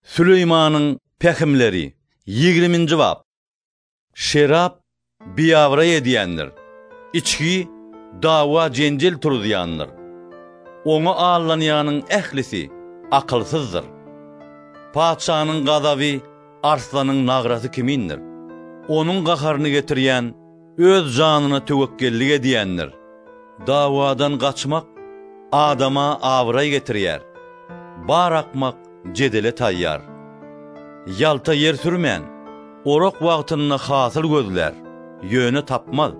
Süleýmanyň pähimleri, ýigriminji bap. Şerap biabraý edýändir, içgi dawa-jenjel turuzýandyr. Oňa aldanýanyň ählisi akylsyzdyr. Patyşanyň gazaby arslanyň nagrasy kimindir, onuň gaharyny getirýän Öz janyna töwekgellik edýändir. Dawadan gaçmak adama abraý getirýär. Bar akmak jedele taýýar. Ýalta ýer sürmän, orak wagtynda hasyl gözlär, ýöne tapmaz.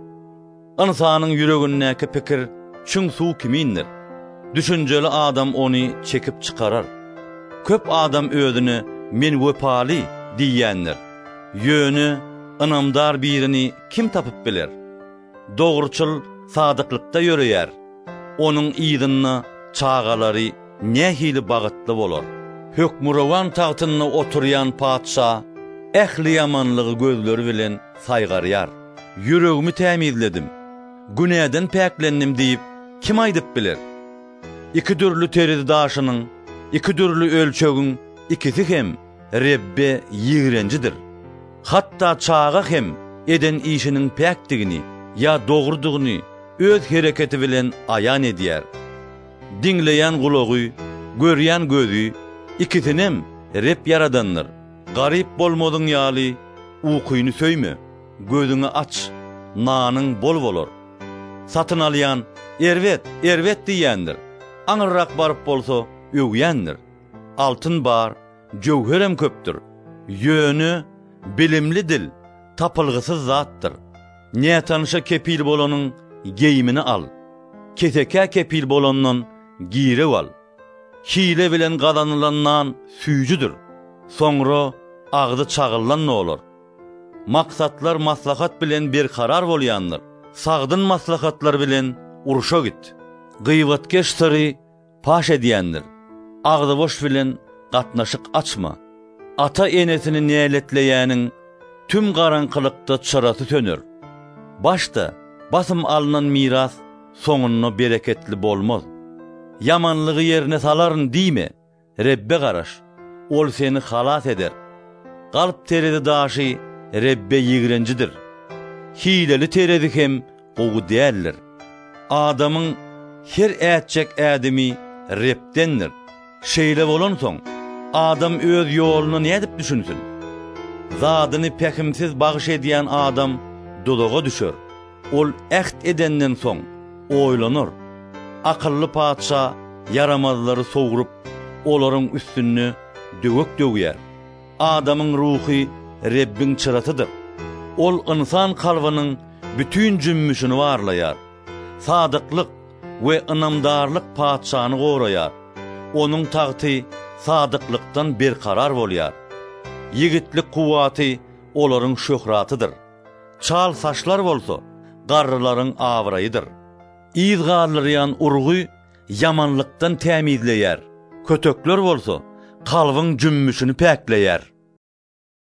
Ynsanyň ýüregindäki pikir çüň suw kimindir. Düşünjeli adam ony çekip çykarar. Köp adam özüne men wepaly diýýändir. Ýöne ynamdar birini kim tapyp biler? Dogruçyl sadyklykda ýöreýär, onuň yzynda çagalary nähili bagytly bolar! Hökmürowan tagtynda oturýan Patyşa ähli ýamanlygy gözleri bilen saýgarýar. Ýüregimi tämizledim, günäden päklendim diýip kim aýdyp biler? Iki dürli terizi daşynyň, iki dürli ölçegiň ikisi hem Rebbe ýigrenjidir. Hatda çaga hem eden işiniň päkdigini ýa dogrudygyny öz hereketi bilen aýan edýär. Diňleýän gulagy, görýän gözi, ikisinem Reb ýaradandyr. Garyp bolmadyň ýaly, ukyny söýme, gözüňi aç, nanyň bol bolar. Satyn alýan, Erbet, erbet diýýändir, aňyrrak baryp bolsa, öwýändir. Altyn bar, jöwherem köpdür. Ýöne, bilimli dil, tapylgysyz zatdyr. Nätanyşa kepil bolanyň geýimini al. Kesekä kepil bolandan girew al. Hile bilen gazanylan nan süýjüdir. Soňra agzy çagyllan bolar. Maksatlar maslahat bilen berkarar bolýandyr. Sagdyn maslahatlar bilen urşa git. Gybatkeş syry Paş edýändir. Agzyboş bilen gatnaşyk açma. Ata-enesini näletleýäniň tüm garaňkylykda çyrasy söner. Başda basym alnan miras soňunda bereketli bolmaz. Ýamanlygy ýerine salaryn diýme, Rebbe garaş, Ol seni halas eder. Galp terezi daşy Rebbe ýigrenjidir. Hileli terezi hem gowy däldir. Adamyň her ätjek ädimi Rebdendir. Şeýle bolansoň, adam öz ýoluna nädip düşünsin? Zadyny pähimsiz bagyş edýän adam duzaga düşer. Ol äht edenden soň, oýlanar. Akylly patyşa ýaramazlary sogrup, olaryň üstünde döwek döwýär. Adamyň ruhy Rebbiň çyrasydyr. Ol ynsan kalbynyň bütin jümmüşini barlaýar. Sadyklyk we ynamdarlyk patyşany goraýar, onuň tagty sadyklykdan berkarar bolýar. Ýigitlik kuwwaty olaryň şöhratydyr. Çal saçlar bolsa, garrylaryň abraýydyr. Yz galdyrýan urgy ýamanlykdan tämizleýär, kötekler bolsa kalbyň jümmüşini päkleýär.